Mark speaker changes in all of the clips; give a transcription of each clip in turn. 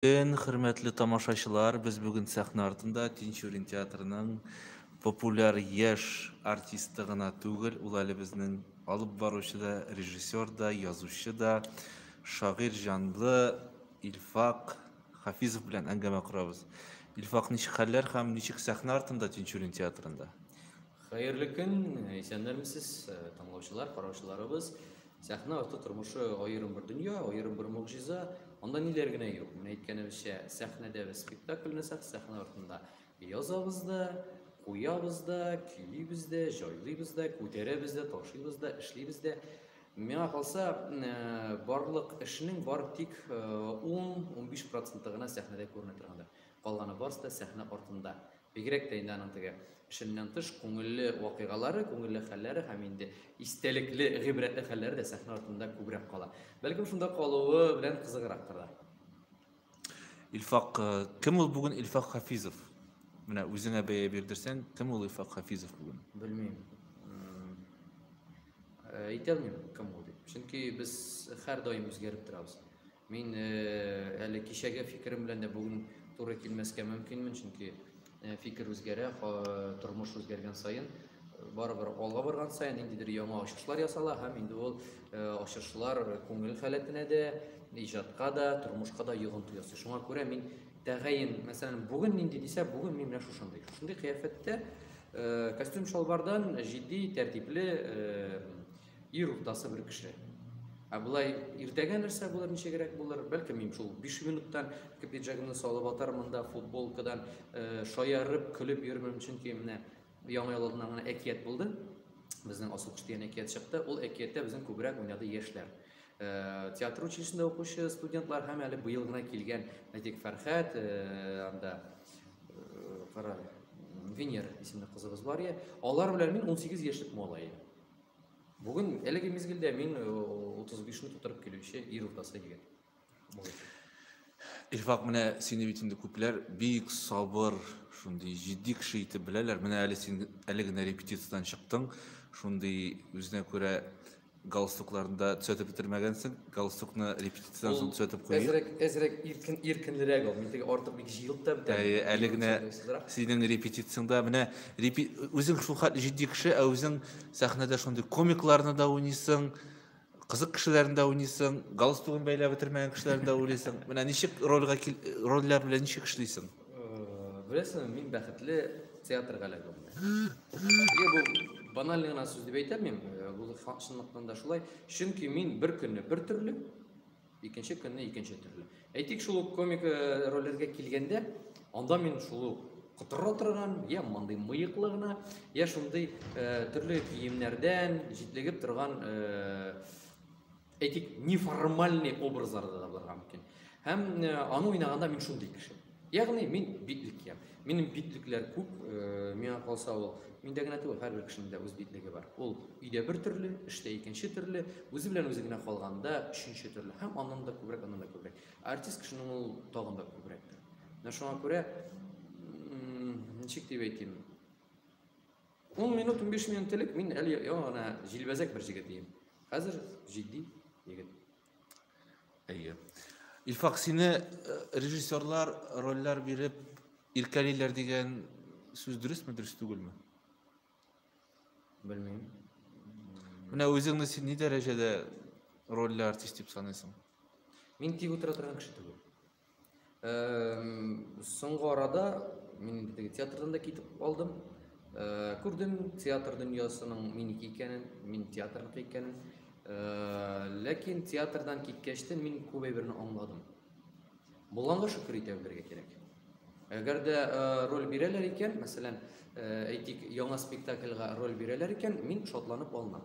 Speaker 1: Көн, хөрмәтле тамашачылар! Без бүген сәхнә артында Тинчурин театрының популяр яшь артисты гына түгел, ул әле безнең алып баручы да, режиссер да, язучы да, шагыйрь җанлы Илфак Хафизов белән әңгәмә корабыз. Илфак, ничек хәлләр һәм ничек сәхнә артында Тинчурин театрында? Хәерле көн, исәннәрмесез, тыңлаучылар, караучыларыбыз. Сәхнә арты тормышы аерым бер дөнья, аерым бер могҗиза. Анда ниләр генә юк. Менә әйткәнебезчә, сәхнәдә без спектакль ясап, сәхнә артында язабыз да, куябыз да, көйибез дә, җайлыйбыз да, күтәрәбез дә, ташыйбыз да, эшлибез дә. Миңа калса, э, барлык эшнең бар тик 10-15 э, проценты гына сәхнәдә күренә торгандыр. Калганы барысы да сәхнә артында. Бигрәк тә инде аның теге эшеннән тыш күңелле вакыйгалары, күңелле хәлләре һәм инде истәлекле, гыйбрәтле хәлләре дә сәхнә артында күбрәк кала. Бәлкем шунда калуы белән кызыграктыр да. Илфак, э, кем ул бүген Илфак Хафизов? Менә үзеңә бәя бирдерсәң, кем ул Илфак Хафизов бүген? Белмим. Әйтә э, алмыйм, кем ул дип. Чөнки без һәр даим үзгәреп торабыз. Мин әле кичәге фикерем белән дә бүген туры килмәскә мөмкинмен, чөнки фикер үзгәрә, тормыш үзгәргән саен, барыбер алга барган саен ниндидер яңа ачышлар ясала һәм инде ул ачышлар күңел халәтенә дә, иҗатка да, тормышка да йогынты ясый. Шуңа күрә мин тәгаен, мәсәлән, бүген нинди дисә, бүген мин менә шушындый. Шушындый кыяфәттә костюм-шалбардан җитди, тәртипле Ир уртасы бер кеше. Ә болай иртәгә нәрсә булыр, ничегрәк булыр? Бәлки мин шул 5 минуттан ике пиджагымны салып атар монда футболкадан э, шаярып, көлеп йөрмим, чөнки менә яңа ел алдыннан гына әкият булды. Безнең Асылкыш дигән әкият чыкты. Ул әкияттә безнең күбрәк уйнады яшьләр. Э, театр училищесында укучы студентлар һәм әле быел гына килгән әйтик фәрхәт э, анда э, кара венера исемле кызыбыз бар иә алар белән мин 18 яшьлек малай Бүген әлеге мизгелдә мин 35 ны тутырып килүче ир уртасы егет. Илфак, менә сине бит инде күпләр бик сабыр, шундый җитди кеше итеп беләләр. Менә әле син әле генә репетициядән чыктың, шундый үзенә күрә галстукларында төзәтеп бетермәгәнсең. Галстукны репетициядән Ул соң төзәтеп куйыйк. Әзрәк, әзрәк иркен, иркенлерәк ул. Мин теге артык бик җыелып та бетә. Әйе, әле генә Сызрак. синең репетицияңдә менә репи... үзең шулхәтле җитди кеше, ә үзең сәхнәдә шундый комикларны да уйныйсың, кызык кешеләрне дә уйныйсың, галстугын бәйләп бетермәгән кешеләрне дә уйлыйсың. Менә ничек рольгә кил... рольләр белән ничек эшлисең? Беләсеңме, мин бәхетле театрга эләгүемне. Нигә бу банальный гына сүз дип әйтәм мин, бу факт чынлыктан да шулай. Чөнки мин бер көнне бер төрле, икенче көнне икенче төрле. Әйтик, шул ук комик рольләргә килгәндә, анда мин шул ук котырра торган, я мондый мыеклы гына, я шундый төрле киемнәрдән җитлегеп торган Әйтик, неформальный образларда да булырга мөмкин. Һәм э, аны уйнаганда мин шундый кеше. Ягъни мин битлек ям. Минем битлекләр күп, э, миңа калса ул миндә генә түгел, һәрбер кешенең дә үз битлеге бар. Ул өйдә бер төрле, эштә икенче төрле, үзе белән үзе генә калганда өченче төрле. Һәм аннан да күбрәк, аннан да күбрәк. Артист кешенең ул тагын да күбрәктер. Менә шуңа күрә ничек дип әйтим, Ун минут, унбиш минут элек мин әле яңа гына җилбәзәк бер җегет идем. Хәзер җитди егет. Әйе. Илфак, сине э, режиссерлар рольләр биреп иркәлиләр дигән сүз дөресме, дөрес түгелме? Белмим. Менә үзеңне син ни дәрәҗәдә рольле артист дип саныйсың? Мин тик утыра торган кеше түгел. соңгы арада мин теге театрдан да китеп калдым күрдем театр дөньясының минеке икәнен мин театрныкы икәнен ләкин театрдан киткәч тә мин күп әйберне аңладым булганга шөкер итә белергә кирәк әгәр дә роль бирәләр икән мәсәлән әйтик яңа спектакльга роль бирәләр икән мин шатланып алынам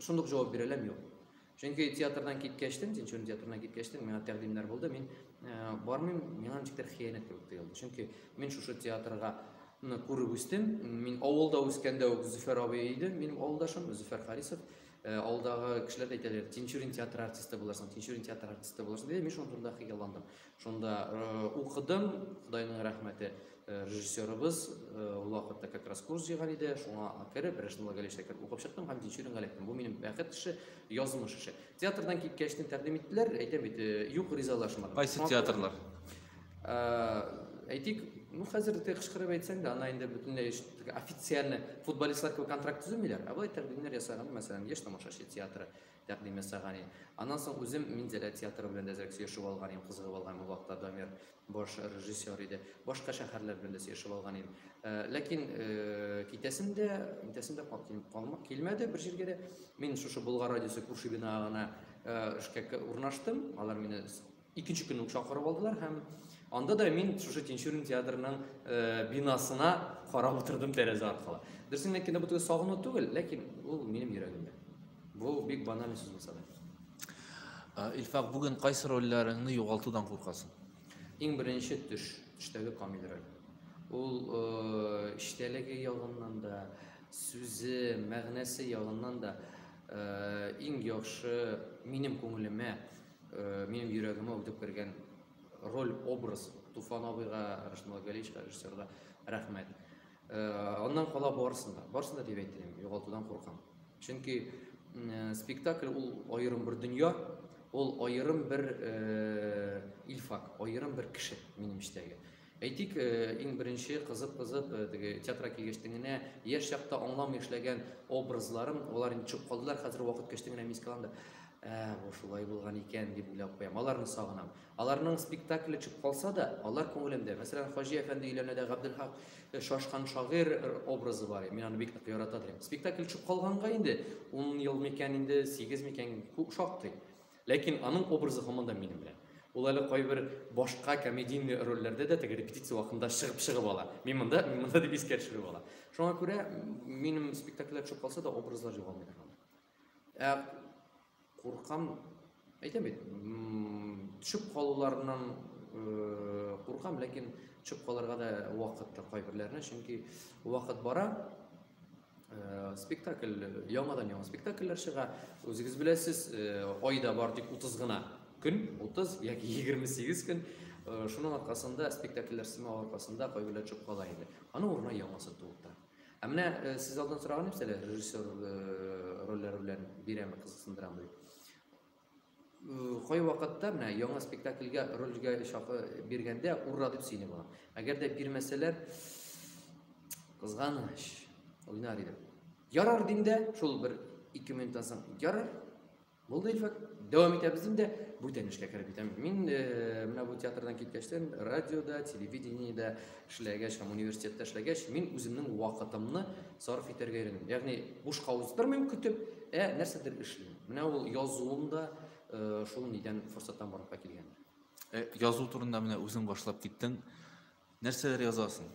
Speaker 1: шундук җавап бирә алам юк чөнки театрдан киткәчтен тинчурин театрына киткәчтен миңа тәкъдимнәр булды мин э, бармыйм миңа ничектер хыянәт кебек тоелды чөнки мин шушы театрга күреп үстем мин авылда үскәндә үк зөфәр абый иде минем авылдашым зөфәр харисов э, авылдагы кешеләр әйтәләр тинчурин театры артисты булырсың тинчурин театры артисты булырсың диде мин шуның турында хыялландым Шунда укыдым, Худайның рәхмәте, режиссерыбыз ул вакытта как раз курс җыйган иде, шуңа кереп, Рәшнулла Галишә кереп укып чыктым һәм Тинчурин Галиевтан. Бу минем бәхет эше, язмыш эше. Театрдан киткәч тә тәкъдим иттеләр, әйтәм бит, юк ризалашмадым. Кайсы театрлар? Әйтик, ну хәзер дә кычкырып әйтсәң дә, ана инде бөтенләй официально футболистлар кебек контракт төземиләр, ә былай тәкъдимнәр ясаган, мәсәлән, Яшь тамашачы театры, тәкъдим ясаган иде. Аннан соң үзем Минзәлә театры белән дә әзрәк сөйләшеп алган идем, кызыгып алган идем, ул вакытта Дамир баш режиссер иде. Башка шәһәрләр белән дә сөйләшеп алган идем. Ләкин китәсем дә, интәсем дә калмак килмәде бер җиргә дә. Мин шушы Болгар радиосы күрше бинага гына эшкә урнаштым. Алар мине Икенче көнне үк чакырып алдылар һәм анда да мин шушы Тинчурин театрының э, бинасына карап утырдым тәрәзә аркылы. Дөресен әйткәндә бу теге сагыну түгел, ләкин ул минем йөрәгемдә. Бу бик баналь сүз булса да. Ә, Илфак, бүген кайсы рольләреңне югалтудан куркасың? Иң беренче төш, төштәге Камил роль. Ул э, эчтәлеге ягыннан да, сүзе, мәгънәсе ягыннан да э, иң яхшы минем күңелемә Э, минем йөрәгемә үтеп кергән роль образ туфан абыйга рашмал галиевичка режиссерга рәхмәт э, аннан кала барысын да барысын да дип әйтәм югалтудан куркам чөнки э, спектакль ул аерым бер дөнья ул аерым бер илфак аерым бер кеше минем эчтәге Әйтик, иң беренче кызып-кызып, теге театрга килгәчтен генә, яшь чакта аңламый эшләгән образларым, алар инде төшеп калдылар, хәзер вакыт кәчтен генә мин искә алам да, ә, бу шулай булган икән, дип уйлап куям. Аларны сагынам. Аларның спектакле төшеп калса да, алар күңелемдә. Мәсәлән, Хаҗи әфәнде өйләренә Габделхак Шашкан шагыйрь образы бар, мин аны бик нык ярата торам. Спектакль төшеп калганга инде, ун ел микән инде, сигез микән, күп шактый. Ләкин аның образы һаман да минем белән. Ул әле кайбер башка комедийный рольләрдә дә теге репетиция вакытында чыгып чыгып ала. Мин монда, мин монда дип искә төшереп ала. Шуңа күрә минем спектакльләр төшеп калса да образлар югалмый торган. Ә куркам, әйтәм бит, төшеп калуларыннан э, куркам, ләкин төшеп калырга да вакыт та кайберләренә, чөнки вакыт бара, Э, спектакль яңадан яңа спектакльләр чыга үзегез беләсез э, айда бар тик утыз гына көн утыз яки егерме сигез көн э, шуның аркасында спектакльләр сымау аркасында кайберләр төшеп кала инде аның урынына яңасы туып ә менә сез алдан сораган нәрсәләр режиссер рольләре белән бирәме кызыксындырамы дип кайвакытта менә яңа спектакльгә рольгә чакы биргәндә ура дип сөйли була. Әгәр дә бирмәсәләр, кызганыч, уйнар идем. Ярар дим дә, шул бер ике минуттан соң, ярар, булды Илфак, дәвам итәбез дим дә, бүтән эшкә кереп китәм. Мин э, менә бу театрдан киткәчтән, радиода, телевидениедә эшләгәч һәм университетта эшләгәч, мин үземнең вакытымны сарыф итәргә өйрәндем. Ягъни бушка уздырмыйм көтеп, ә нәрсәдер эшлим. Менә ул язуым да шул нидән форсаттан барлыкка килгән. Э, язу турында менә үзең башлап киттең. Нәрсәләр язасың?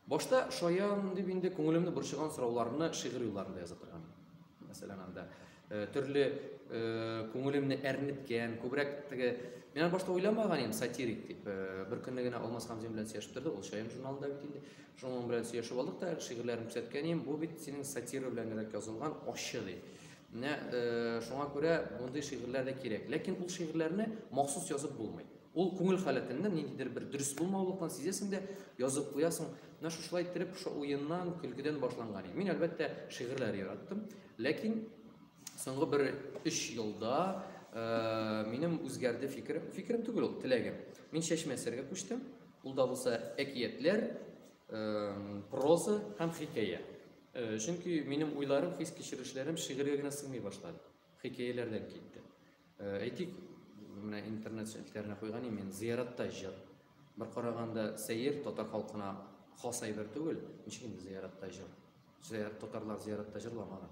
Speaker 1: Башта шаян дип инде күңелемне борчыган сорауларны шигырь юлларында яза торган. Мәсәлән, анда э, төрле э, күңелемне әрнеткән, күбрәк теге Мин башта уйламаган идем сатирик дип. Бер көнне генә Алмаз Хамзин белән сөйләшеп торды, ул шаян журналында бит инде. Шуның белән сөйләшеп алдык та, шигырьләрен күрсәткән идем. Бу бит синең сатира беләнрәк язылган ачы ди. Менә э, шуңа күрә мондый шигырьләр дә кирәк. Ләкин ул шигырьләрне махсус язып булмый. Ул күңел халәтеннән ниндидер бер дөрес булмаулыкны сизәсең дә, язып куясың. Менә шушылай иттереп, шушы уеннан, көлкедән башланган иде. Мин, әлбәттә, шигырьләр яраттым. Ләкин соңгы бер өч елда э, минем үзгәрде фикерем. Фикерем түгел ул, теләгем. Мин чәчмә әсәргә күчтем. Ул да булса әкиятләр, проза һәм хикәя. Чөнки минем уйларым, хис кичерешләрем шигырьгә генә сыймый башлады. Хикәяләрдән китте. Әйтик, менә интернет челтәренә куйган мин зыяратта җыр. Бер караганда сәер татар халкына хас әйбер түгел, ничек инде зыяратта җыр. Зыярат татарлар зыяратта җырламаган.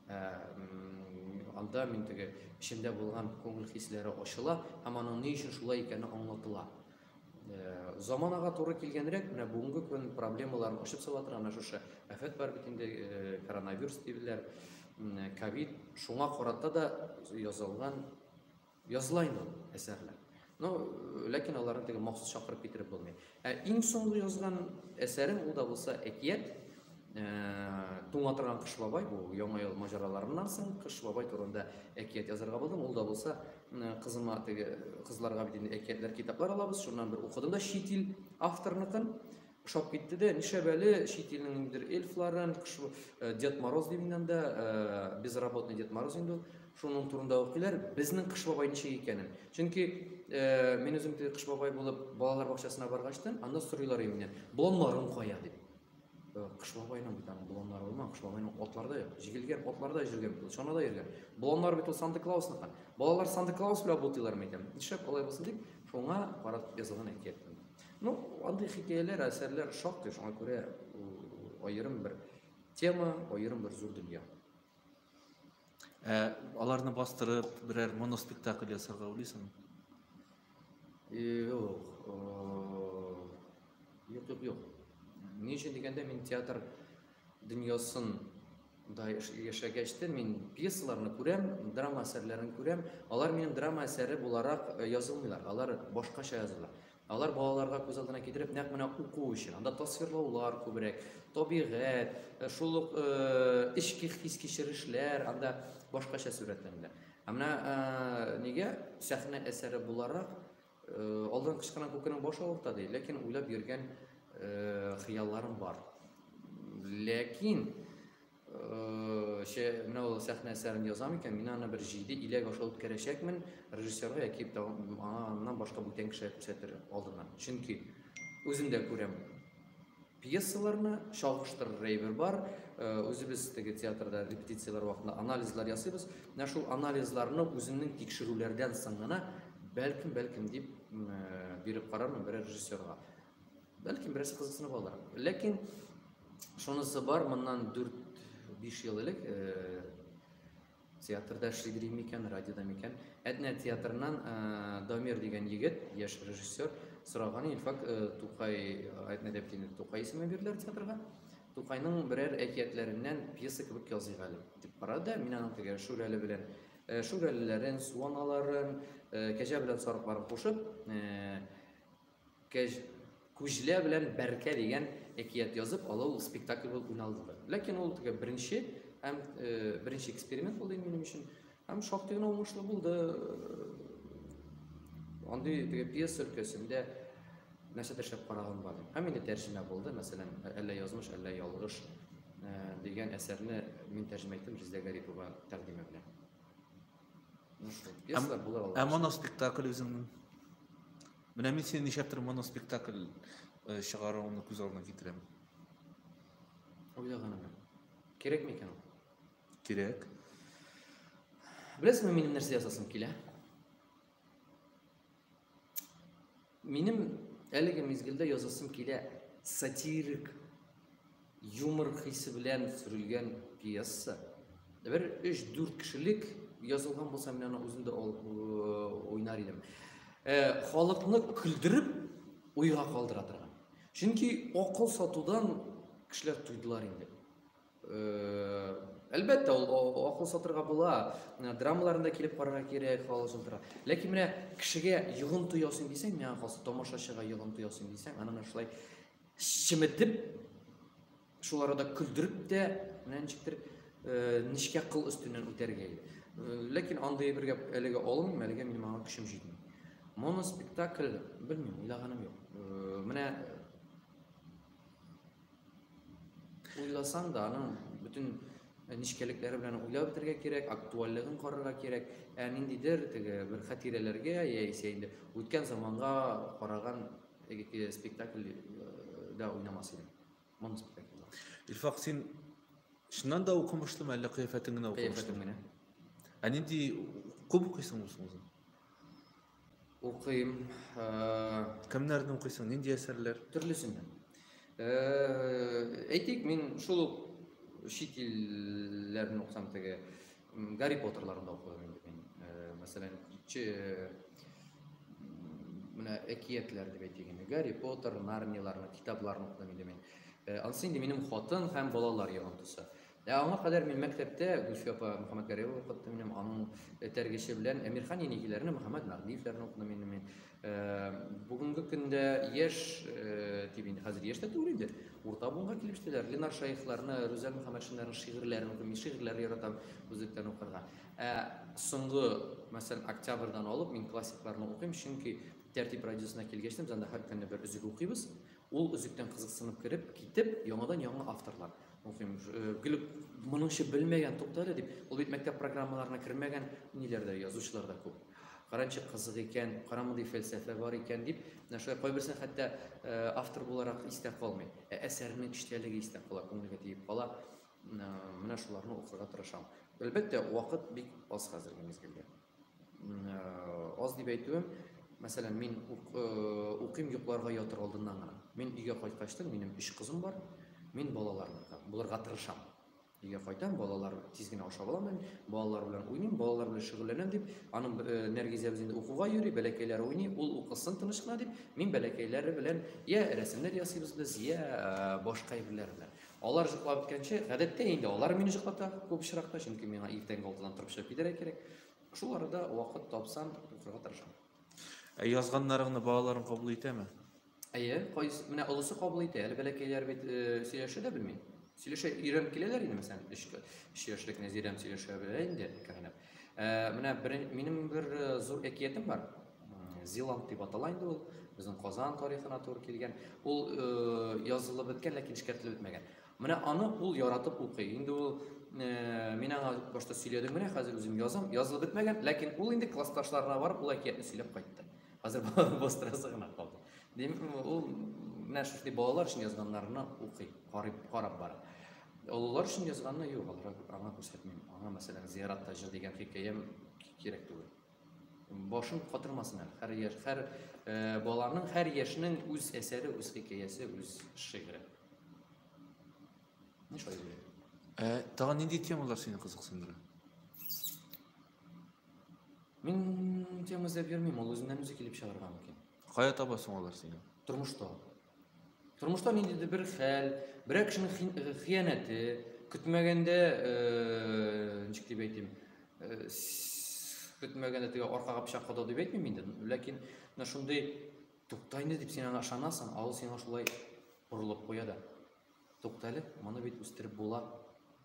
Speaker 1: Ә, анда мин теге эчемдә булган күңел хисләре ачыла һәм аның ни өчен шулай икәне аңлатыла. Ә, заманага туры килгәнрәк, менә бүгенге көн проблемаларын ачып сала торган менә шушы афәт бар бит инде, э, коронавирус диләр, ковид, шуңа карата да язылган Языла инде ул әсәрләр. Но ләкин аларны теге махсус чакырып китереп булмый. Ә иң соңгы язган әсәрем ул да булса әкият. Э, Туңа торган Кыш бабай бу яңа ел маҗараларыннан соң Кыш бабай турында әкият язарга булдым. Ул да булса э, кызыма теге кызларга бит инде әкиятләр китаплар алабыз. Шуннан бер укыдым да чит ил авторныкын. Ошап китте дә, нишләп әле чит илнең ниндидер эльфларын, кыш- э, Дед Мороз ди миннән дә, э, безработный Дед Мороз инде ул. Шуның турында укыйлар, безнең Кыш бабай ничек икәнен. Чөнки э, мин үзем теге Кыш бабай булып балалар бакчасына баргач та, анда сорыйлар иде миннән, боланнарың кая дип. Э, Кыш бабайның бит аның боланнары булмаган, Кыш бабайның атлары да юк, җигелгән атларда йөргән бит ул, чанада йөргән. Боланнар бит ул Санта Клаусныка. Балалар Санта Клаус белән бутыйлар микән? Нишләп алай булсын дип, шуңа карап язылган әкият. Ну, андый хикәяләр, әсәрләр шактый, шуңа күрә аерым бер тема, аерым бер зур дөнья. Ә аларны бастырып, берәр моноспектакль ясарга уйлыйсың? Юк. Юк, юк, юк. Ни өчен дигәндә мин театр дөньясын да яшәгәч тә мин пьесаларны күрәм, драма әсәрләрен күрәм. Алар минем драма әсәре буларак язылмыйлар, алар башкача языла. Алар балаларга күз алдына китереп, нәкъ менә уку өчен. Анда тасвирлаулар күбрәк, табигать, э, шул ук э, эчке хис-кичерешләр анда башкача сурәтләнелә. Ә менә э, нигә сәхнә әсәре буларак алдан кычкырган күкенең башы авырта ди, ләкин уйлап йөргән хыялларым бар. Ләкин Ше, менә ул сәхнә әсәрен язам икән, мин аны бер җиде иләк аша үткәрәчәкмен, режиссерга яки аннан башка бүтән кешегә күрсәтер алдыннан. Чөнки үзем дә күрәм пьесаларны, чагыштыр рейвер бар, үзебез теге театрда репетицияләр вакытында анализлар ясыйбыз. Менә шул анализларны үземнең тикшерүләрдән соң гына бәлкем, бәлкем дип биреп карармын берәр режиссерга. Бәлки бераз кызыксынып алар. Ләкин шунысы бар, моннан 4-5 ел элек э, театрда эшли дим микән, радиода микән, Әтнә театрыннан э, Дамир дигән егет, яшь режиссер, сораган Илфак э, Тукай, Әтнә дәптине Тукай исеме бирделәр театрга. Тукайның берәр әкиятләреннән пьеса кебек языйк әле дип карады. Мин аның теге Шүрәле белән Шүрәлеләрен, суаналарын, кәҗә белән сарыкларын кушып, Кәҗ, Күҗлә белән Бәркә дигән әкият язып алу ул спектакль булып уйналды. Ләкин ул теге беренче һәм э, беренче эксперимент булды минем өчен. Һәм шактый гына уңышлы булды. Андый теге пьеса өлкәсендә нәрсәдер шәп караган бар. Һәм инде тәрҗемә булды, мәсәлән, әллә язмыш, әллә ялгыш э, дигән әсәрне мин тәрҗемә иттем Ризә Гарипова тәкъдиме белән. Ну что, пьеса була алар. Ә моноспектакль үзеңнең? Менә мин синең ничәптер моноспектакль э, чыгаруыңны күз алдына китерәм. Уйлаганым. Кирәкме икән ул? Кирәк. Беләсеңме, минем нәрсә ясасым килә? Минем әлеге мизгелдә язасым килә сатирик юмор хисе белән сүрелгән пьеса. Бер 3-4 кешелек язылган булса, мин аны үзем дә уйнар идем. Э, халыкны көлдереп, уйга калдыра торган. Чөнки акыл сатудан кешеләр туйдылар инде. Әлбәттә, ул акыл сатырга була, драмаларында килеп карарга кирәк, халык сатырга. Ләкин менә кешегә йогынты ясыйм дисәң, миңа калса тамашачыга йогынты ясыйм дисәң, аны менә шулай чеметеп, шул арада көлдереп тә, менә ничектер нечкә кыл өстеннән үтәргә. Ләкин андый бер гәп әлегә алынмыйм, әлегә минем аңа көчем җитми. Моноспектакль, белмим, уйлаганым юк. Менә Уйласаң да, аның бөтен Э, нечкәлекләре белән уйлап бетергә кирәк, актуальлыгын карарга кирәк. Ә ниндидер теге бер хатирәләргә яисә инде үткән заманга караган теге спектакль э, да уйнамас идем. Моны спектакль. Илфак, син чыннан да укымышлымы, әллә кыяфәтең генә укымышлымы? Кыяфәтем генә. Ә нинди күп укыйсың үзең? Укыйм. Кемнәрне укыйсың, нинди әсәрләр? Төрлесен. Әйтик, мин шул ук чит илләрне укысам теге Гарри Поттерларын да укыдым инде мин. Мәсәлән, кичә менә әкиятләр дип әйтик инде. Гарри Поттер, Нарнияләрне, китапларны укыдым инде мин. Ансы инде минем хатын һәм балалар йогынтысы. Ә аңа кадәр мин мәктәптә Гөлфия апа Мөхәммәтгәрәева укытты минем, аның этәргече белән Әмирхан Енигиләрне, Мөхәммәт Мәгъдиевләрне укыдым инде мин. Бүгенге көндә яшь, дип инде хәзер яшь тә түгел инде, урта буынга килеп җитәләр. Ленар Шаихларны, Рүзәл Мөхәммәтшиннарның шигырьләрен укыйм, мин шигырьләр яратам үзлектән укырга. Ә соңгы, мәсәлән, октябрьдан алып мин классикларны укыйм, чөнки Тәртип радиосына килгәч, без анда һәр көнне бер өзек укыйбыз. Ул өзектән кызыксынып кереп, китеп, яңадан яңа авторлар. Мөһим, гел моныңчы белмәгән туктале дип, ул бит мәктәп программаларына кермәгән ниләрдә язучылар да күп. Каранчы кызык икән, карамындый фәлсәфә бар икән дип, менә шулай кайберсен хәтта автор буларак истә калмый. Ә әсәрнең эчтәлеге истә кала, күңелгә тиеп кала. Менә шуларны укырга тырышам. Әлбәттә, вакыт бик аз хәзерге мизгелдә. Аз дип әйтүем, мәсәлән, мин укыйм йокларга ятыр алдыннан гына. Мин өйгә кайткачтын, минем өч кызым бар, мин балаларны булырга тырышам. Өйгә кайтам, балалар тиз генә ашап аламын, балалар белән уйныйм, балалар белән шөгыльләнәм дип, аның Нәргизәбез инде укуга йөри, бәләкәйләре уйный, ул укысын тыныч кына дип, мин бәләкәйләре белән я рәсемнәр ясыйбыз без, я башка әйберләр белән. Алар җоклап беткәнче, гадәттә инде алар мине җоклата күп очракта, чөнки миңа иртәнге алтыдан торып чыгып китәргә кирәк. Шул арада вакыт тапсам, укырга тырышам. Ә язганнарыңны балаларың кабул итәме? Әйе, кайсы менә олысы кабул итә, әле бәләкәйләр бит э, сөйләшә дә белми. Сөйләшә өйрәнеп киләләр инде, мәсәлән, 3 3 яшьлек Нәзирәм сөйләшә белә инде, кәрәнәп. Ә, менә бер, минем бер э, зур әкиятем бар. Зиланг дип атала инде ул. Безнең Казан тарихына туры килгән. Ул э, язылып беткән, ләкин эшкәртелеп бетмәгән. Менә аны ул яратып укый. Инде ул э, мин аңа башта сөйләдем, менә хәзер үзем язам. Язылып бетмәгән, ләкин ул инде классташларына барып ул әкиятне сөйләп кайтты. Хәзер бастырасы гына калды. Дим, ул менә шушындый балалар өчен язганнарны укый, карап, карап бара. Олылар өчен язганны юк, алар аңа күрсәтмим. Аңа мәсәлән, зияратта җыр дигән хикәям кирәк түгел. башын катырмасын әле. Һәр яшь, һәр э, баланың, һәр яшьнең үз әсәре, үз хикәясе, үз шигыре. Ни шулай диләр? Э, тагын нинди темалар сине кызыксындыра? Мин тема эзләп йөрмим, ул үзеннән үзе килеп чыгарга мөмкин. Кая табасың алар сине? Тормышта. Тормышта нинди бер хәл, берәр кешенең хыянәте, көтмәгәндә, ничек дип әйтим, көтмәгәндә теге аркага пычак кадау дип әйтмим инде, ләкин менә шундый тукта инде дип син аңа ышанасың, ә ул сиңа шулай борылып куя да. Тукта әле, моны бит үстереп була,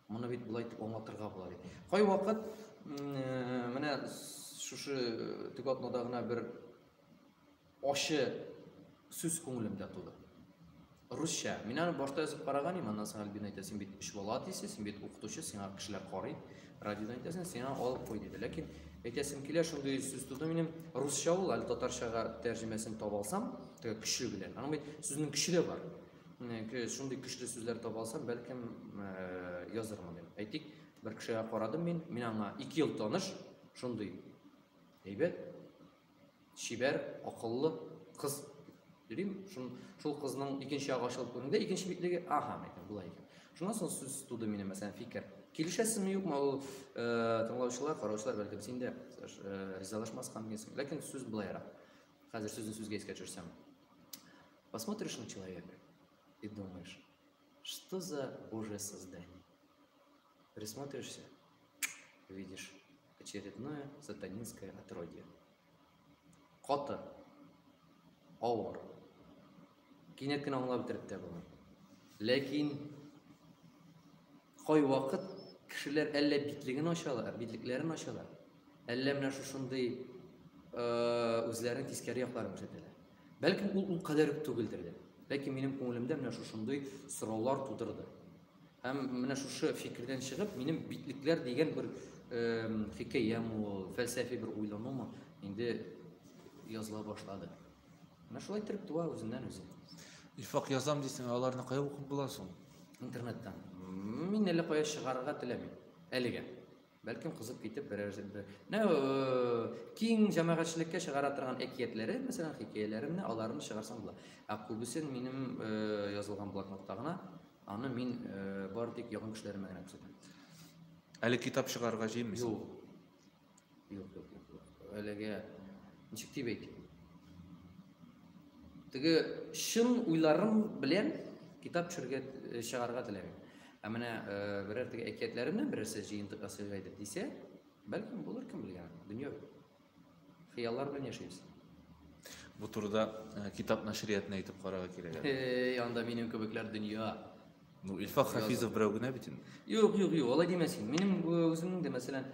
Speaker 1: моны бит болай итеп аңлатырга була ди. Кайвакыт менә шушы төгатнада гына бер Ачы сүз күңелемдә туды. Русча. Мин аны башта язып караган идем, аннан соң Альбина әйтә, син бит өч бала әтисе, син бит укытучы, сиңа кешеләр карый, радиодан әйтәсең, сиңа алып куй диде. Ләкин әйтәсем килә, шундый сүз туды минем, русча ул, әле татарчага тәрҗемәсен таба алсам, теге көче белән. Аның бит сүзнең көче дә бар. Шундый көчле сүзләр таба алсам, бәлкем язырмын дип. Әйтик, бер кешегә карадым мин, мин аңа 2 ел таныш, шундый әйбәт, чибәр, акыллы кыз йөрим. Шул, шул кызның икенче ягы ачылып күренгәндә, икенче битлеге, ага, мәйтәм, болай икән. Шуннан соң сүз туды минем, мәсәлән, фикер. Килешәсезме, юкмы, ул э, тыңлаучылар, караучылар, бәлки син дә э, ризалашмаска мөмкинсең. Ләкин сүз былайрак. Хәзер сүзне сүзгә искә төшерсәм. Посмотришь на человека и думаешь, что за божье создание? Присмотришься, видишь очередное сатанинское отродье. Каты, ауыр. Кинәт кенә аңлап бетереп тә булмый. Ләкин кай вакыт кешеләр әллә битлеген ачалар, битлекләрен ачалар, әллә менә шушындый э, үзләрен тискәре якларын күрсәтәләр. Бәлкем ул ул кадәр түгелдер дә. Ләкин минем күңелемдә менә шушындый сораулар тудырды. Һәм менә шушы фикердән чыгып, минем битлекләр дигән бер фикәям ул, фәлсәфи бер уйлануым инде языла башлады. Менә шулай итеп туа үзеннән үзе. Ифак язам дисең, аларны кая укып була соң? Интернеттан. Мин әле кая чыгарырга теләмим. Әлегә. Бәлкем кызып китеп берәр бер нә киң җәмәгатьчелеккә чыгара торган әкиятләре, мәсәлән, хикәяләремне, аларны чыгарсам була. Ә күбесен минем язылган блокнотта гына, аны мин бары тик якын кешеләремә генә күрсәтәм. Әле китап чыгарырга җыенмыйсың? Юк. Юк, юк, юк. Әлегә ничек дип әйтим? Теге чын уйларым белән китап төшергә э, чыгарга теләгән. Ә менә э, берәр теге әкиятләремнән берәрсе җыентык ясыйга иде дисә, бәлкем булыр кем белгән. Дөнья бит. Хыяллар белән яшибез. Бу турыда э, китап нәшриятына әйтеп карарга кирәк. әле. Эй, анда минем кебекләр дөнья. Ну, Илфак Хафизов берәү генә бит инде. Юк, юк, юк, алай димә син. Минем үземнең дә, мәсәлән,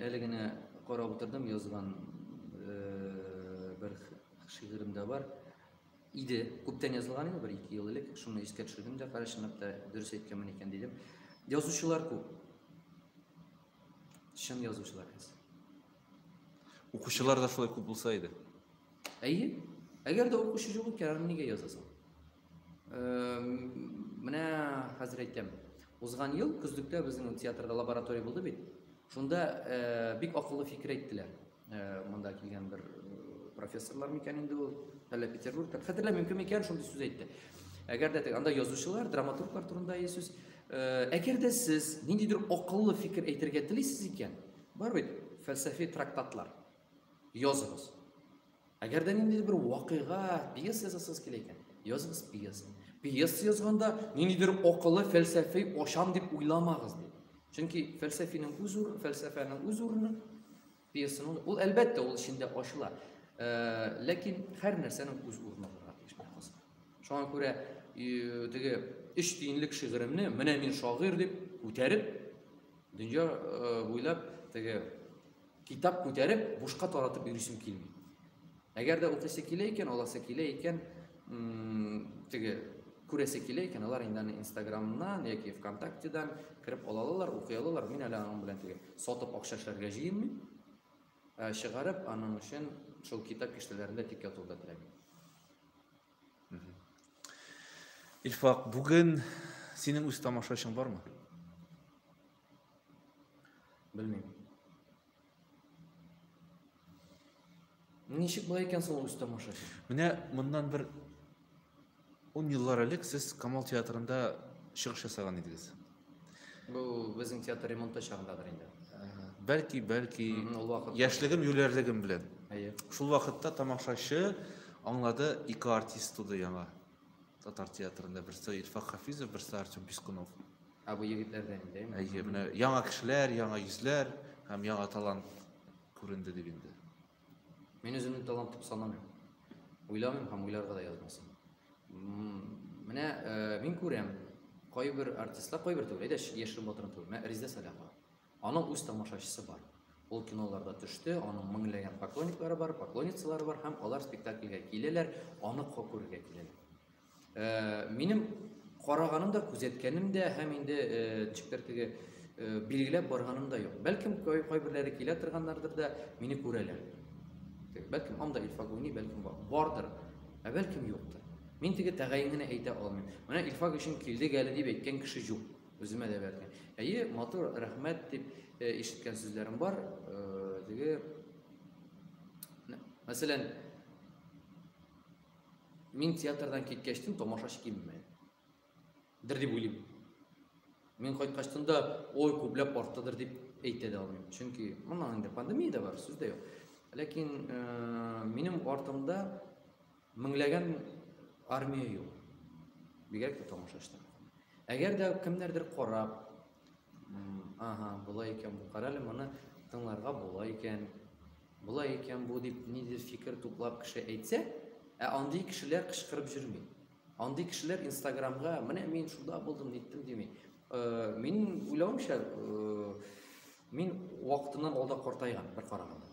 Speaker 1: әле генә карап утырдым, язган бер шигырем дә бар. Иде, күптән язылган иде, бер ике ел элек. Шуны искә төшердем дә, кара чынлап та дөрес әйткәнмен икән дидем. Язучылар күп. Чын язучылар аз. Укучылар да шулай күп булса иде. Әйе. Әгәр дә укучы юк икән, аны нигә язасың? Менә хәзер әйтәм. Узган ел көзлектә безнең театрда лаборатория булды бит. Шунда э, бик акыллы фикер әйттеләр. Э, монда килгән бер э, профессорлар микән инде ул, әллә Петербургта. Хәтерләмим мөмкин микән шундый сүз әйтте. Әгәр дә анда язучылар, драматурглар турында ие сүз. Әгәр дә сез ниндидер акыллы фикер әйтергә телисез икән, бар бит фәлсәфи трактатлар. Языгыз. Әгәр дә ниндидер бер вакыйга, пьеса язасыз килә икән, языгыз пьеса. Пьеса язганда ниндидер акыллы фәлсәфи ашам дип уйламагыз ди. Чөнки фәлсәфинең үз урыны, фәлсәфәнең үз урыны пьесаның ул әлбәттә ул эчендә ачыла. Э, ләкин һәр нәрсәнең үз урыны бар ди шәхес. Шуңа күрә э, теге өч тиенлек шигыремне менә мин шагыйрь дип күтәреп дөнья э, буйлап теге Китап күтәреп, бушка таратып йөрисем килми. Әгәр дә укысы килә икән, аласы килә икән, теге күрәсе килә икән, алар инде аны Инстаграмнан яки ВКонтактедан кереп алалар, укый алалар. Мин әле аның белән теге сатып акча эшләргә җыенмыйм. Ә чыгарып аның өчен шул китап киштәләрендә тик ятуда теләмим. Илфак, бүген синең үз тамашачың бармы? Белмим. Ничек болай икән соң үз тамаша? Менә моннан бер 10 еллар элек сез Камал театрында чыгыш ясаган идегез. Бу безнең театр ремонты чагындадыр инде. Бәлки, бәлки, яшьлегем, юләрлегем белән. Әйе. Шул вакытта тамашачы аңлады, ике артист туды яңа. Татар театрында берсе Илфак Хафизов, берсе Артем Пискунов. Ә бу егетләр дә инде. Әйе, менә яңа кешеләр, яңа йөзләр һәм яңа талант күренде дип инде. Мин үземне талант дип санамыйм. Уйламыйм һәм уйларга да язмасам. Менә э, мин күрәм, кайбер артистлар, кайбер түгел, әйдә яшерен батырын түгел, менә Риза Сәләхова. Аның үз тамашачысы бар. Ул киноларда төште, аның меңләгән поклонниклары бар, поклонницалары бар һәм алар спектакльгә киләләр, аны кокурга киләләр. Э, минем караганым да күзәткәнем дә һәм инде э, ничектер э, билгеләп барганым да юк бәлкем кайберләре килә торганнардыр да мине күрәләр бәлкем анда илфагуни бәлкем бардыр ә бәлкем юктыр мин теге тәгаен генә әйтә алмыйм менә илфак өчен килдек әле дип әйткән кеше юк үземә дә бәлкем әйе матур рәхмәт дип ишеткән сүзләрем бар теге мәсәлән Мин театрдан киткәчтен тамашачы кимеми. Дер дип уйлыйм. Мин кайткачтын да, ой, күпләп арттыдыр дип әйтә дә алмыйм. Чөнки моннан инде пандемия дә бар, сүз дә юк. Ләкин э, минем артымда меңләгән армия юк. Бигрәк тә тамашачылар. Әгәр дә кемнәрдер карап, Ага, болай икән бу. Карале моны тыңларга була икән. Болай икән бу дип ниндидер фикер туплап кеше әйтсә, ә андый кешеләр кычкырып йөрми. Андый кешеләр Инстаграмга, менә мин шунда булдым, ниттем дими. Э, мин уйлавымча, э, мин вакытыннан алда картайган бер караганда.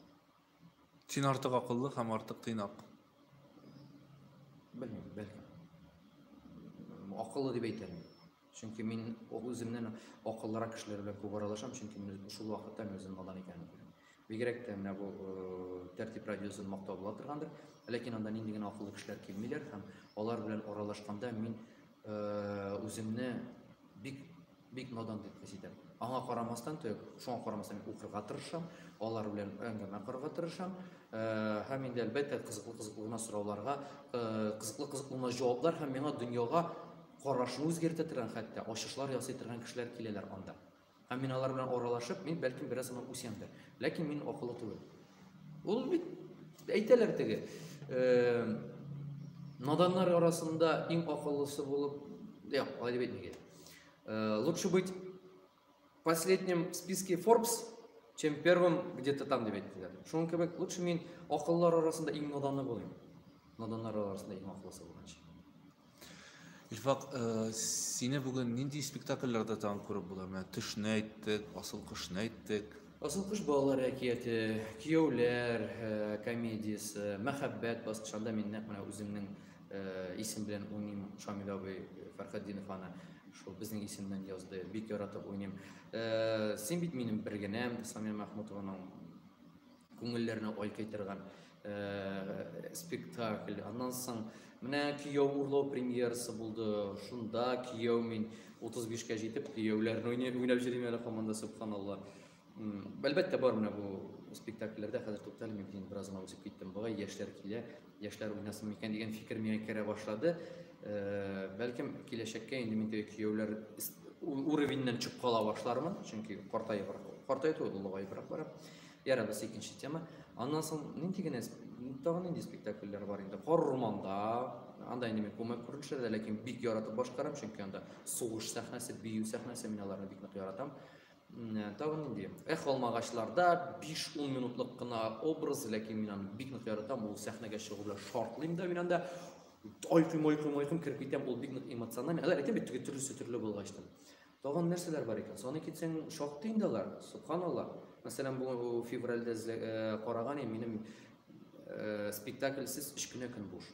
Speaker 1: Син артык акыллы һәм артык тыйнак. Белмим, бәлки. Акыллы дип әйтәм. Чөнки мин үземнән акыллырак кешеләр белән күп аралашам, чөнки мин шул вакытта мин үзем надан икәнен күрәм. Бигрәк тә менә бу э, тәртип радиосын мактау була торгандыр. Ләкин анда нинди генә акыллы кешеләр килмиләр һәм алар белән аралашканда мин э, үземне бик Бик надан дип хис итәм. Аңа карамастан, шуңа карамастан мин укырга тырышам, алар белән әңгәмә корырга тырышам. Һәм инде әлбәттә кызыклы кызыклы гына сорауларга, кызыклы кызыклы гына җаваплар һәм миңа дөньяга карашны үзгәртә торган хәтта ачышлар ясый торган кешеләр киләләр анда. Һәм мин алар белән аралашып, мин бәлкем бераз гына үсәмдер. Ләкин мин акыллы түгел. Ул бит әйтәләр теге наданнар арасында иң акыллысы булып, юк, алай дип әйтмәгән. Э, лучше быть последним в списке Forbes, чем первым где-то там деп әйттеләр. Шуның кебек лучше мин акыллар арасында иң наданы булыйм. Наданнар арасында иң акыллысы булганчы. Илфак, э, сине бүген нинди спектакльләрдә тагын күреп була? Менә төшне әйттек, асыл кошны әйттек. Асыл кош балалар әкияте, кияүләр э, комедиясе, мәхәббәт баскычында мин нәкъ менә үземнең Исем белән уйныйм Шамил абый Фәрхетдинов аны шул безнең исемнән язды. Бик яратып уйныйм. Син бит минем бер генәм Самия Мәхмүтованың күңелләренә ай кайтырган спектакль. Аннан соң менә кияү урлау премьерасы булды. Шунда кияү мин 35 кә җитеп кияүләрне уйнап йөрим әле команда субханалла. Әлбәттә, бар менә бу спектакльләрдә хәзер туктале мин инде бераз гына үсеп киттем. Бугай яшьләр килә, яшьләр уйнасын микән дигән фикер миңа керә башлады. Э, бәлкем киләчәккә инде мин теге кияүләр уровеньнән чыгып кала башлармын, чөнки картаеп картаеп туды улыгаеп бара. Яра без икенче тема. Аннан соң нинди генә тагын нинди спектакльләр бар инде? Кар урманда, анда инде мин күмәк күренешләрдә, ләкин бик яратып башкарам, чөнки анда сугыш сәхнәсе, бию сәхнәсе, мин аларны бик нык яратам. Тагы нинди? Эх, алмагачларда 5-10 минутлык кына образ, ләкин мин аны бик нык яратам. Ул сәхнәгә чыгу белән шартлыйм да мин анда. Айкым, айкым, айкым киреп китәм. Ул бик нык эмоциональ. Мин әйтәм бит, теге төрлесе төрле булгачтан. Тагын нәрсәләр бар икән? Саны китсәң, шактый инде алар. Субханалла. Мәсәлән, бу февральдә э, караган минем э, спектакльсез 3 кенә көн буш.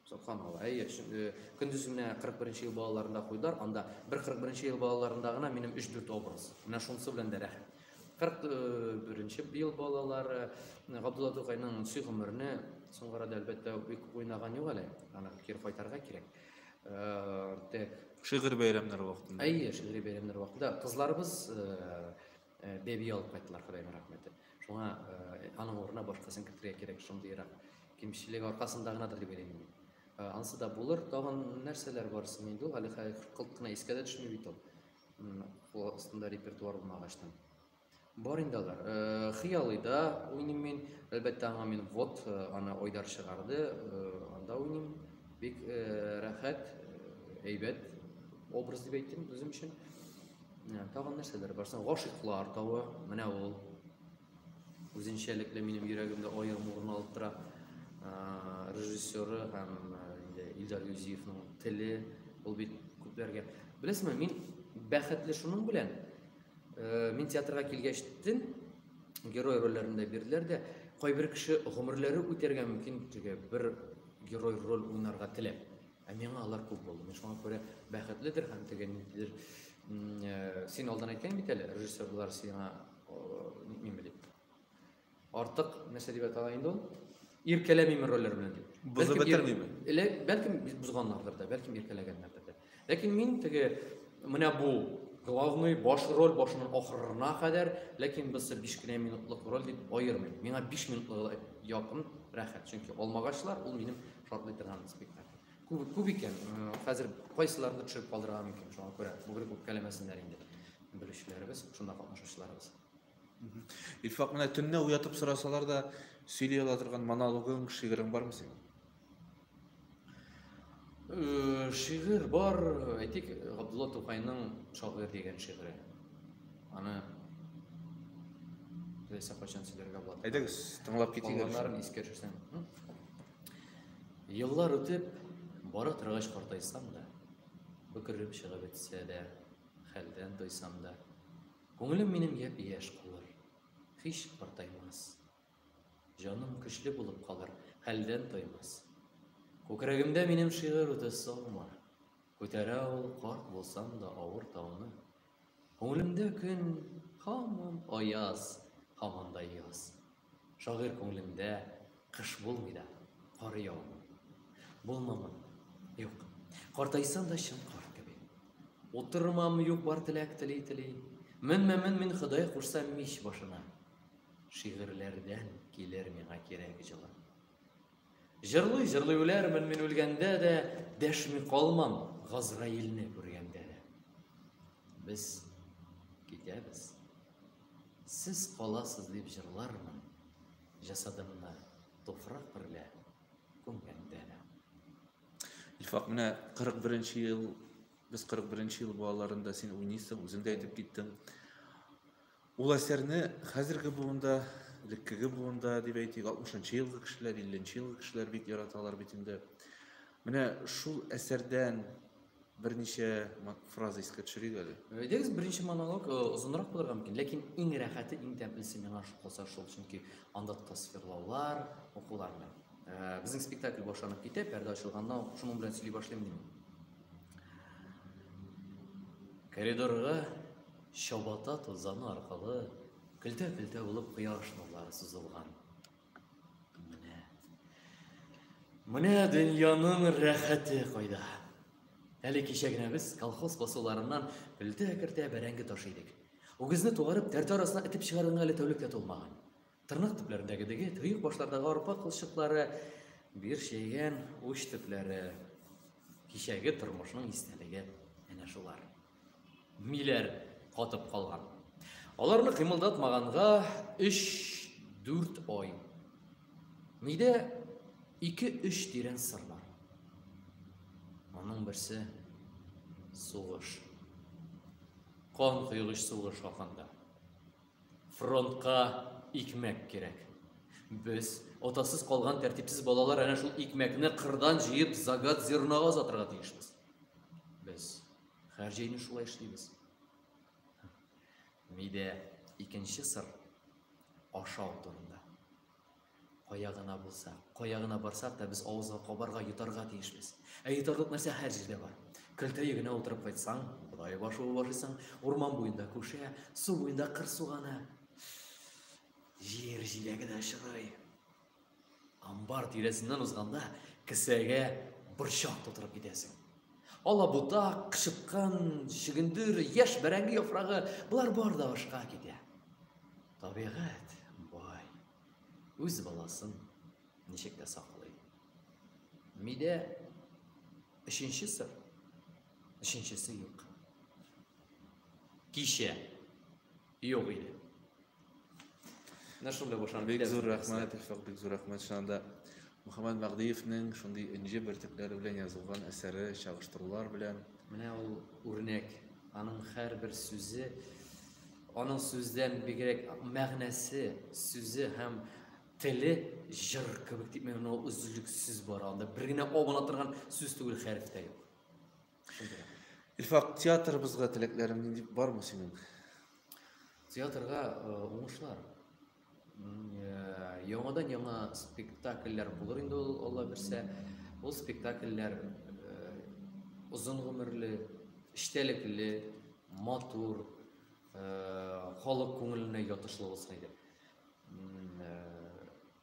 Speaker 1: Субханалла. Әйе, э, көндез менә 41 ел балаларында куйдылар, анда бер 41 ел балаларында гына минем 3-4 образ. Менә шунысы белән дә рәхәт. 41 э, ел балалары э, Габдулла Тукайның сый гомерне соңгы арада әлбәттә бик уйнаган юк әле. Аны кире кайтарга кирәк. Тек шигырь бәйрәмнәре вакытында. Әйе, шигырь бәйрәмнәре вакытында кызларыбыз Бәби алып кайттылар, Ходайның рәхмәте. Шуңа аның урынына башкасын кертергә кирәк, шундыйрак кимчелек аркасында гынадыр дип уйлыйм. Ансы да булыр. Тагын нәрсәләр бар соң инде ул? Әле кылт кына искә дә төшми бит ул. Кул астында репертуар булмагачтан. Бар инде алар. Хыялыйда уйныйм мин. Әлбәттә, аңа мин вот аны Айдар чыгарды. Анда уйныйм. Бик рәхәт, әйбәт образ дип әйтим үзем өчен. Тагын нәрсәләр бар? Гашыйклар тавы, менә ул. Үзенчәлекле минем йөрәгемдә аерым урын алып тора. Режиссеры һәм Илдар Юзиевның теле, ул бит күпләргә. Беләсезме, мин бәхетле шуның белән, э, мин театрга килгәч тен герой рольләрендә бирделәр дә, кайбер кеше гомерләре үтәргә мөмкин теге бер герой роль уйнарга теләп. Ә миңа алар күп булды. Мин шуңа күрә бәхетледер һәм теге ниндидер э, син алдан әйткән бит әле, режиссерлар сиңа ниме дип. Артык нәрсә дип атала инде ул? Иркәләмиме рольләр белән дип. Бозып бетермиме? Эле бәлкем бозганнардыр да, бәлкем иркәләгәннәрдер дә. Ләкин мин теге менә бу главный баш роль башыннан ахырына кадәр, ләкин без 5 генә минутлык роль дип аермыйм. Миңа 5 минутлыгы якын, рәхәт. Чөнки алмагачлар ул минем Шатлый торган спектакль. Күп, күп икән, хәзер кайсыларны төшереп калдырырга мөмкин, шуңа күрә бүгрек үпкәләмәсеннәр инде белүчеләребез, шунда катнашучыларыбыз. Илфак, менә төнне уятып сорасалар да, сөйли ала торган монологың, шигырың бармы синең? Э, шигырь бар, әйтик, Габдулла Тукайның Шагыйрь дигән шигыре. Аны теләсә кайчан сөйләргә була. Әйдәгез, тыңлап китик. Балаларын искә төшерсәң. Еллар үтеп, бара торгач картайсам да, бөкререп чыгып бетсә дә, хәлдән тойсам да, күңелем минем япь-яшь калыр, һич картаймас. Җаным көчле булып калыр, хәлдән тоймас. Күкрәгемдә минем шигырь үтә саумар, күтәрә ул карт булсам да авыр тауны. Күңелемдә көн һаман аяз, һаман да яз. Шагыйрь күңелендә кыш булмый да, кар яумый. Булмамын, юк, картайсам да чын кар кеби. Утырмам, юк, бар теләк тели-тели. Менмәмен мин Ходай кушса мич башына. Шигырьләрдән килер миңа кирәк җылы. Җырлый, җырлый үләрмен мин үлгәндә дә, дәшми калмам Газраилне күргәндә дә. Без китәбез. Сез каласыз дип җырлармын, җасадымны туфрак берлә күмгәндә дә. Илфак, менә 41 ел, без 41 ел балаларында син уйныйсың, үзең дә әйтеп киттең. Ул әсәрне хәзерге буында, элеккеге буында дип әйтик, 60-нчы елгы кешеләр, 50-нче елгы кешеләр бик яраталар бит инде. Менә шул әсәрдән берничә фраза искә төшерик әле. Әйдәгез, беренче монолог э, озынрак булырга мөмкин, ләкин иң рәхәте, иң тәмлесе миңа калса шул, чөнки анда тасвирлаулар, укулар белән. Э, безнең спектакль башланып китә, пәрдә ачылганда ук шуның белән сөйли башлыйм мин. Коридорга Чабата тузаны аркылы көлтә-көлтә булып кояш нурлары сузылган. Менә. Менә дөньяның рәхәте кайда. Әле кичә генә без колхоз басуларыннан көлтә-кертә бәрәңге таш идек. Үгезне тугарып, тәртә арасына этеп чыгаруына әле тәүлек тә тулмаган. Тырнак төпләрендәге деге, төйек башлардагы арпа кылчыклары, бир чәйгән уч төпләре. Кичәге тормышның истәлеге әнә шулар. Миләр катып калган. Аларны кыймылдатмаганга 3-4 ай. Мидә 2-3 тирән сыр бар. Аның берсе сугыш. Кан кыйлыш сугыш хакында. Фронтка икмәк кирәк. Без отасыз калган тәртипсез балалар әнә шул икмәкне кырдан җыеп загат зернога озатырга тиешбез. Без Һәр җәйне шулай эшлибез. Мидә икенче сыр ашау турында. Кая гына булса, кая гына барсак та без авызга кабарга, йотарга тиешбез. Ә йотарлык нәрсә һәр җирдә бар. Көлтә егенә утырып кайтсаң, бодай башы ашыйсың, урман буенда күшә, су буенда кыр суганы. Җир җиләге дә очрый. Амбар тирәсеннән узганда, кесәгә борчак тутырып китәсең. Алабута, кычыткан, чөгендер, яшь бәрәңге яфрагы, болар бар да ашка китә. Табигать бай. Үз баласын ничек тә саклый. Мидә өченче сыр. Өченчесе юк. Кичә Юк иде. Менә шунда башланды. Бик зур рәхмәт, Илфак, бик зур рәхмәт. Чыннан да Мөхәммәд Мәгъдиевнең шундый энҗе бөртекләре белән язылган әсәре, чагыштырулар белән. Менә ул үрнәк. Аның һәрбер сүзе, аның сүздән бигрәк мәгънәсе, сүзе һәм теле җыр кебек дип мин ул үзлексез бара анда. Бер генә абына торган сүз түгел, хәреф тә юк. Илфак, театрыбызга теләкләрең нинди бармы синең? Театрга э, уңышлар. Э, яңадан яңа спектакльләр булыр инде ул Алла бирсә. Ул спектакльләр озын э, гомерле, эчтәлекле, матур, халык күңеленә ятышлы булсын иде.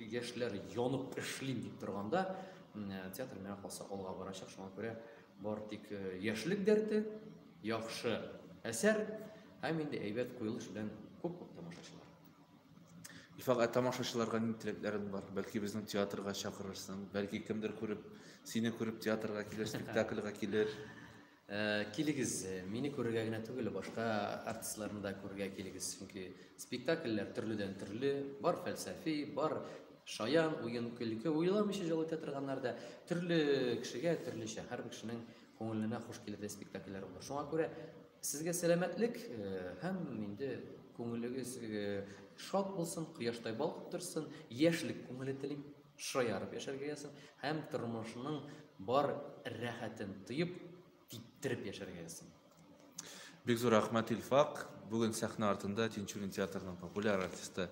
Speaker 1: яшьләр янып эшлим дип торганда театр миңа калса алга барачак шуңа күрә бар тик яшьлек дәрте яхшы әсәр һәм инде әйбәт куелыш белән күп күп тамашачылар Илфак, ә тамашачыларга ни теләкләрең бар? Бәлки безнең театрга чакырырсың, бәлки кемдер күреп, сине күреп театрга килер, спектакльга килер. Ә, килегез, мине күрергә генә түгел, башка артистларны да күрергә килегез, чөнки спектакльләр төрледән төрле, бар фәлсәфи, бар шаян уен көлке уйламыйча җылы торганнар да төрле кешегә төрлечә һәрбер кешенең күңеленә хуш килердәй спектакльләр булыр шуңа күрә сезгә сәламәтлек э, һәм инде күңелегез э, шат булсын кояштай балкып торсын яшьлек күңеле телим шаярып яшәргә язсын һәм тормышның бар рәхәтен тоеп, типтереп яшәргә язсын. Бик зур рәхмәт Илфак. Бүген сәхнә артында Тинчурин театрының популяр артисты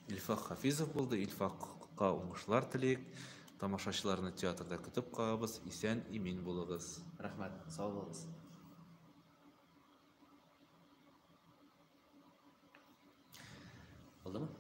Speaker 1: Илфак Хафизов булды. Илфакка уңышлар телик. Тамашачыларны театрда көтеп калабыз. Исән, имин булыгыз. Рәхмәт, сау булыгыз. Булдымы?